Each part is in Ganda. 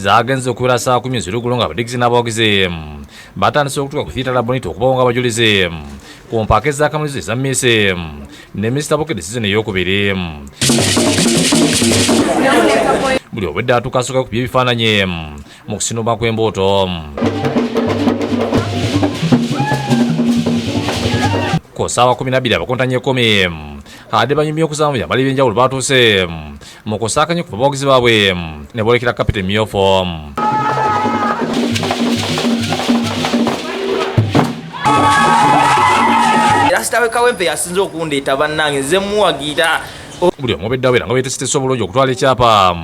zagenze okubeera saa kumi ezirugulu nga abadigisi n'abawagizi batandise okutuka ku thieta labonita okubawo nga abajulizi ku mpaaka ez'akamalirizo eza miisi ne minisita bukedi sizoni ey'okubiri buli obwedde atuuka asooka ku by'ebifaananyi mu kusinuma kw'embuuto ku ssaawa kumi nabbiri abakontanye ekumi ade banyumya okuzaamu byambala ebyenjawulo baatuuse mu kusaakanya ku bawagizi baabwe ne boolekera kapita emyufu rasita we kawempe yasinze okundeeta bannange nze muwagira buli omu obeddawo era nga beetesetesa obulungi okutwala ekyapa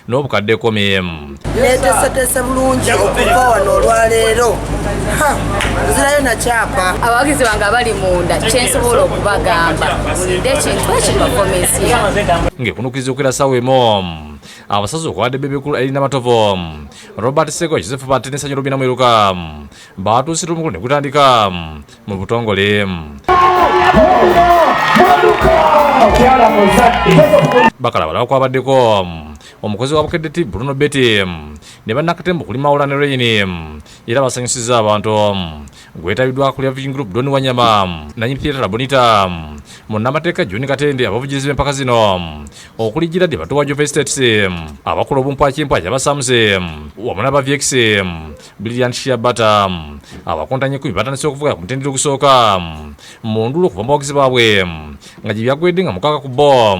n'obukadde komi netesetese bulungi okuva wano olwaleero nzirayo nakyapa abawagizi bange abali munda kyensobola okubagamba mulinde ekintu ekibafomesi ngekunukiriza okwera sawa emu abasazi okwade bebekulu erina matovu robert seko joseph batenesa nyo lubina mwiruka batuusira omukulu negutandika mu butongole bakala balaba kwabaddeko omukozi wa bukedde ti bruno beti ne bannakatemba okuli mawula ne reyini era basanyusizza abantu gwetabiddwa kulya vision group doni wanyama nanyi theatre labonita munnamateeka john katende abavugizi b'empaka zino okuli giradi batuwa jova estates abakola obumpwakimpwa kyabasamuze wamu naba vx brilliant shiabata abakontanye kumi batandise okuvuga ku mutendera ogusooka mu ndulo okuva mu bawagizi baabwe nga gye byagwedde nga mukaka ku bo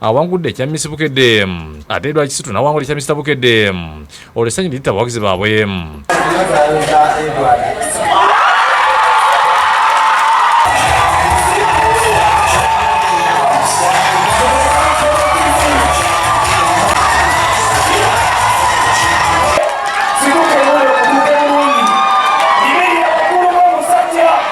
awangudde ekya Miss Bukedde ate Edward Kisitu n'awangula ekya Mr Bukedde olwo essanyu liyita abawagizi baabwe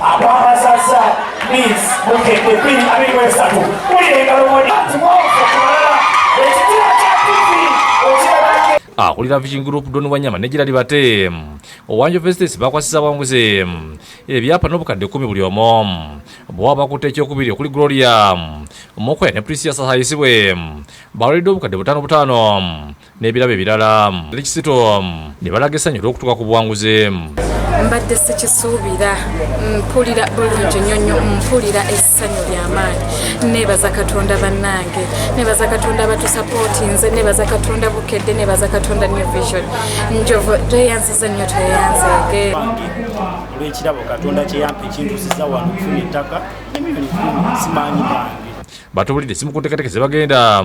abamasaza means mukende bbiri abiri mwesatu mulira engalo moni akulira vision group don wanyama ne girali bate owanjo festes bakwasiza bwanguzi ebyapa n'obukadde kumi buli omu bwaba bakutte ekyokubiri okuli gloria mukwene prisia sasayisibwe bawulidde obukadde butaano butaano n'ebirabo ebirala ali kisito ne balaga essanyu olw'okutuuka ku buwanguzi mbadde sikisuubira mpulira bulungi nnyo nnyo mpulira essanyu ly'amaanyi neebaza katonda bannange neebaza katonda batusapootinze neebaza katonda bukedde neebaza katonda new vision njovu tweyanziza nnyo tweyanzeege olw'ekirabo katonda kyeyampa ekintusiza wano okufuna ettaka emiliyoni kumi simaanyi bange batubulidde simu ku nteekateeka ze bagenda